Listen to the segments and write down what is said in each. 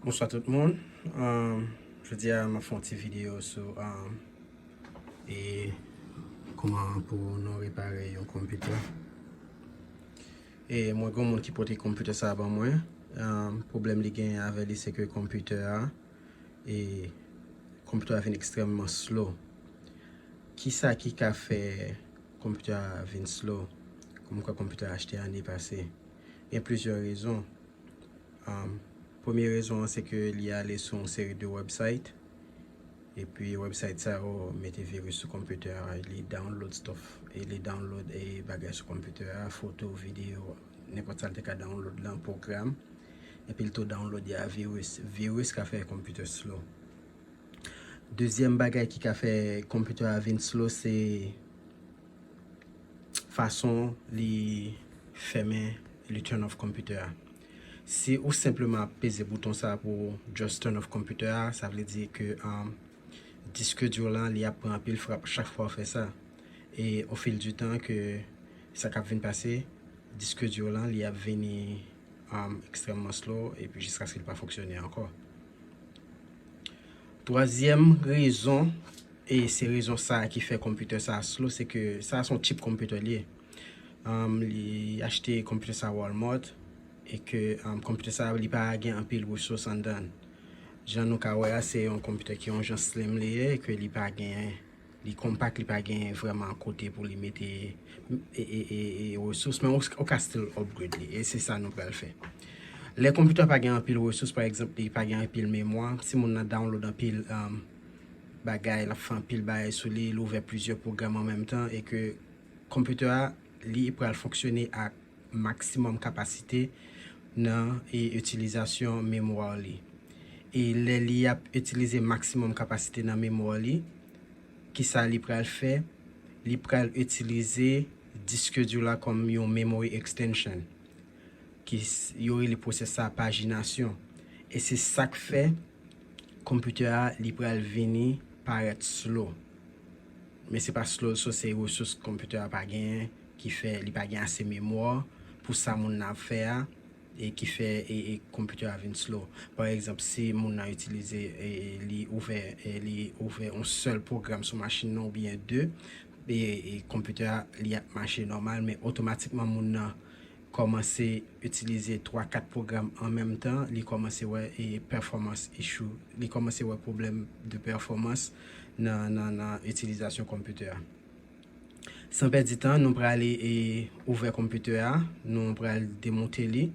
Bonswa tout moun, jodi a mwen fè yon ti video sou e kouman pou nou repare yon konpitè e mwen gen yon moun ki pote konpitè sa ban mwen pwoblèm li gen avè li se ke konpitè a e konpitè a vin ekstrèmman slow ki sa ki ka fè konpitè a vin slow kouman konpitè a achte ane pase. Gen plizyè rezon. Premye rezon an se ke li ale sou yon seri de website e pi website sa yo mete virus sou konpitè a, li download stuff, li download bagay sou konpitè a, foto, video, nenpòt sa li te ka download lan, pwogram, e pi li tou download ya virus. Virus ka fè konpitè slow. Dezyèm bagay ki ka fè konpitè a vin slow se. fason li fèmen li turn off computer a si ou senpleman ap peze bouton sa pou just turn off computer a sa vle di ke disk di w lan li ap pran anpil frap chak fwa ou fè sa e o fil di tan ke sa kap vin pase disk di w lan li ap vini ekstrèmman slow epi jiskaske li pa fonksyone ankò twazyèm rezon E se rezon sa ki fè computer sa slow se ke sa son cheap computer li ye. Li achte computer sa Walmart e ke computer sa li pa gen anpil resous anndann. Jan nou ka wè a se yon computer ki yon jan slim li ye e ke li pa gen li compact li pa gen vreman kote pou li mete resous men ou ka still upgrade li e se sa nou pral fè. Lè computer pa gen anpil resous pa egzanp li pa gen anpil memwa si moun nan download anpil bagay, l ap fè anpil bagay sou li, l ouvè plizyè pwogram an menm tan e ke konpitè a li pral fonksyone ak maksimòm kapasite nan itilizasyon memwa li. E lè li ap itilize maksimòm kapasite nan memwa li, ki sa li pral fè? Li pral itilize diske di w la kòm yon memory extension, ki yo rele pwosès sa pajinasyon. E se sa k fè. Computer a li pral vini parèt slow. Men se pa slow so se resous computer a pa genyen ki fè li pa gen ase memoire pou sa moun nan ap fè a e ki fè e computer a vin slow. Pa egzanp si moun nan itilize li ouvè li ouvè on sèl program sou machin nan oubyen 2 e computer a li ap mache nòmal men otomatikman moun nan kòmanse itilize 3 4 pwogram an menm tan li kòmanse wè performance issue li kòmanse wè pwoblèm de pèfòmans nan itilizasyon konpitè a san pèdi tan nou pral ouvè konpitè a nou pral demonte li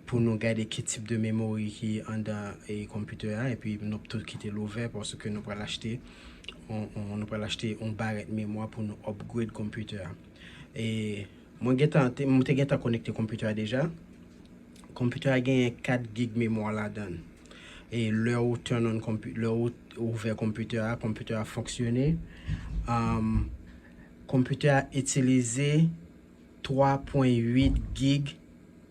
pou nou gade ki tip de memori ki andan konpitè a epi nou ap tou kite l ouvè paske nou pral achte yon barèt memwa pou nou upgrade konpitè a. Mwen gentan te m te gentan konekte computer a deja. Computer a genyen 4 gig memwa ladann. E lè ou turn on compu lè ou ouvè computer a, computer a fonksyone. Um Computer a itilize 3.8 gig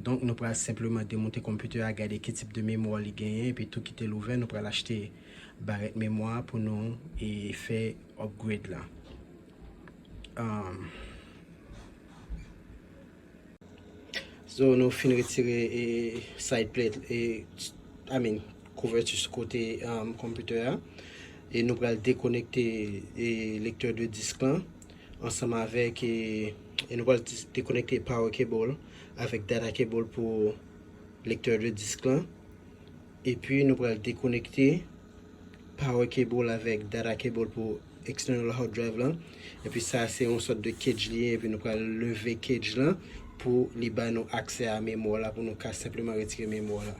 Donk nou pral senpleman demonte konpitè a gade ki tip de memwa li genyen epi tou kite l ouvè nou pral achte barèt memwa pou nou e fè upgrade la umm. So nou fin retire e side plate e I mean kouvèti sou kote umm konpitè a e nou pral dekonekte e lektè de disk lan. ansanm avèk e nou pral te konekte power cable avèk data cable pou lecteur de disque lan epi nou pral te konekte power cable avèk data cable pou external hard drive lan epi sa se yon sòt de cage li ye epi nou pral leve cage lan pou li ba nou aksè a memwa la pou nou ka senpleman retire memwa la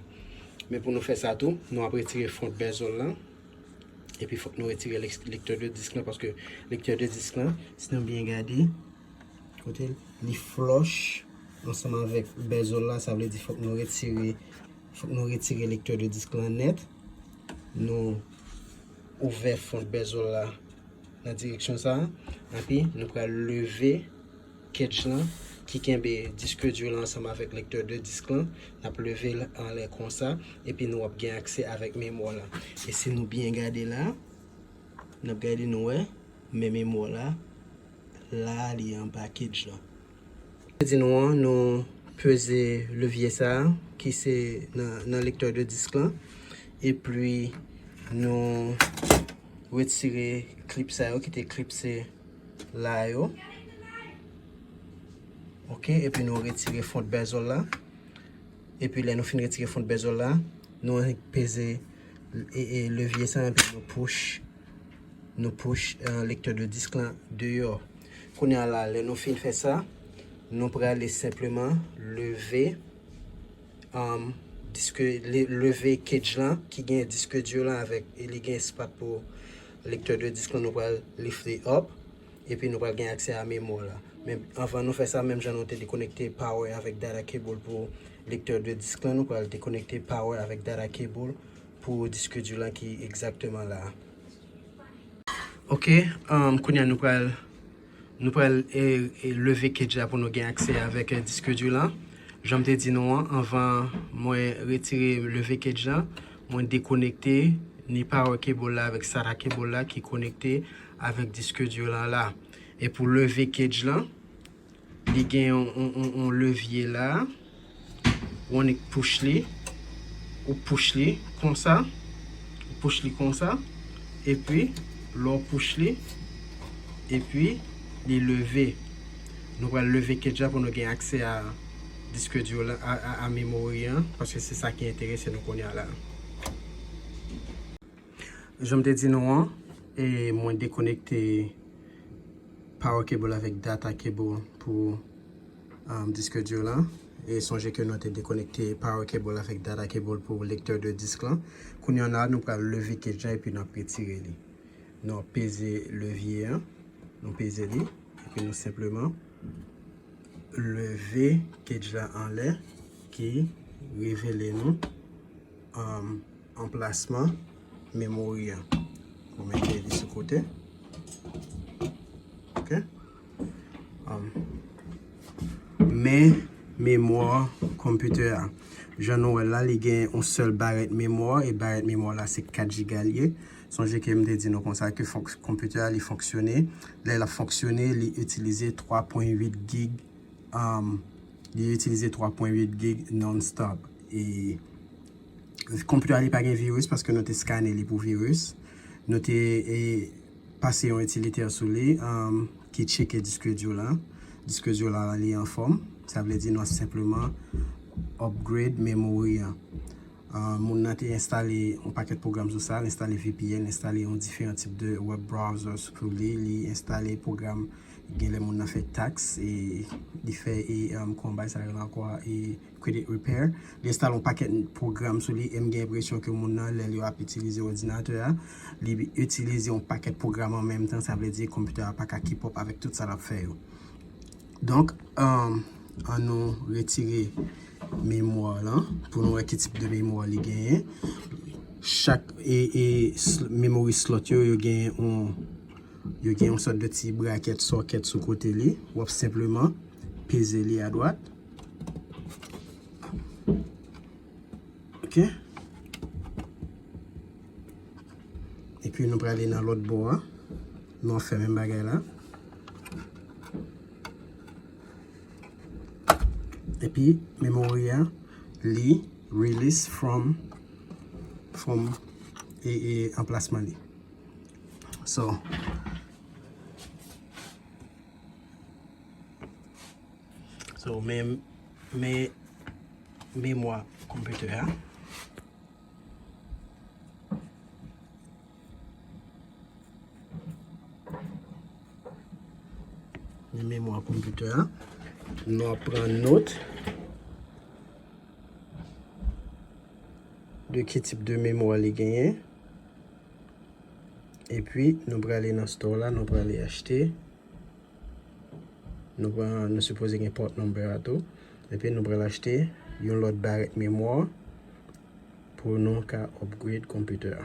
men pou nou fè sa tou nou ap retire front bezel lan Epi fòk nou retire lektè de disk lan paske lektè de disk lan si nou byen gade kote li flòch ansanm avèk bezol la sa vle di fòk nou retire fòk nou retire lektè de disk lan nèt nou ouvè fon bezol la nan direksyon sa epi nou pral leve Ketch lan ki kenbe disque dur lan ansanm avèk lecteur de disque lan, nap level anlè konsa epi nou ap gen aksè avèk memwa la. E si nou byen gade la, nap gade nou wè men memwa la la li anba ketch lan. Mwen di nou an nou peze levye sa ki se nan lecteur de disque lan epi nou retire klip sa yo ki te klipse. la yo ok epi nou retire fond bezol la epi lè nou fin retire fond bezol la nou peze levye sa epi nou pouche nou pouche lektè de disk la deyò kounye a la lè nou fin fè sa nou prale senpleman leve Disk leve kedj lan ki gen disk dur lan avèk e li gen espas pou lektè de disk lan nou pral lift li up epi nou pral gen aksè a memwa la. Men anvan nou fè sa menm jan nou te dekonekte power avèk data cable pou lektè de disk lan nou pral dekonekte power avèk data cable pou disk dur lan ki egzakteman la. Ok, kounya nou pral Nou pral leve kedj la pou nou gen aksè avèk disk dur lan. Janm te di nou an anvan mwen retire leve kedj lan mwen dekonekte ni power cable la avèk sata cable la ki konekte avèk disk dur lan la. E pou leve kedj lan li gen yon levye la. ou annik push li, ou push li konsa, ou push li konsa, epi lè ou push li, epi li leve, nou pral leve kedj la pou nou gen aksè a diske di yo la, a memori an, paske se sa ki enterese nou kounye a la. Jan m te di nou an, e mwen dekonekte power cable avèk data cable pou. Diske dur lan, e sonje ke nou te dekonekte power cable avèk data cable pou lecteur de disque lan, kounye an la nou pral leve cage la epi nap retire li, nou ap peze levye an, nou peze li epi nou senpleman leve cage la anlè ki revele nou anplasman memory an, nou mete li sou kote ok. Men memwa konpitè a. Jan nou wè l la, li gen yon sèl barèt memwa, e barèt memwa l la se 4 jiga l ye. Sonje ke m te di nou konsa ke konpitè a li fonksyone, lè l ap fonksyone, li itilize 3 pwen 8 gig, li itilize 3 pwen 8 gig non stop. E konpitè a li pa gen viris paske nou te skane li pou viris. Nou te e. Pase yon itilitè sou li ki tcheke Diskedio la. Diskedio la la li anfòm. Sa vle di nou ap senpleman upgrade memory an. Moun nan te enstale yon pakèt pwogram sou sa. Li enstale vpn, li enstale yon diferan tip de web browser sou li. Li enstale pwogram genlè moun nan fè tax e li fè yon kòm bay sa rele ankò a. Credit Repair. Li enstale yon pakèt pwogram sou li e m gen enpresyon ke moun nan lè li ap itilize òdinatè a, li itilize yon pakèt pwogram an menm tan, sa vle di konpitè a pa ka keep up avèk tout sa l ap fè yo. Donk, an nou retire memwa lan pou nou wè ki tip de memwa li genyen. Chak memory slot yo, yo gen yon sòt de ti brakèt, sokèt sou kote li. W ap senpleman peze li adwat. Ok. E pi nou prale nan lòt bò a. Nou an fè men bagay la. E pi memory a li release from from e e anplasman li. So. So men men memwa computer a. Men memwa computer a. Nou ap pran not. De ki tip de memwa li genyen. E pi nou prale nan store la nou prale achte. Nou pran nou sipoze gen port number a tou. Epi nou pral achte yon lòt barèt memwa pou nou ka upgrade computer a.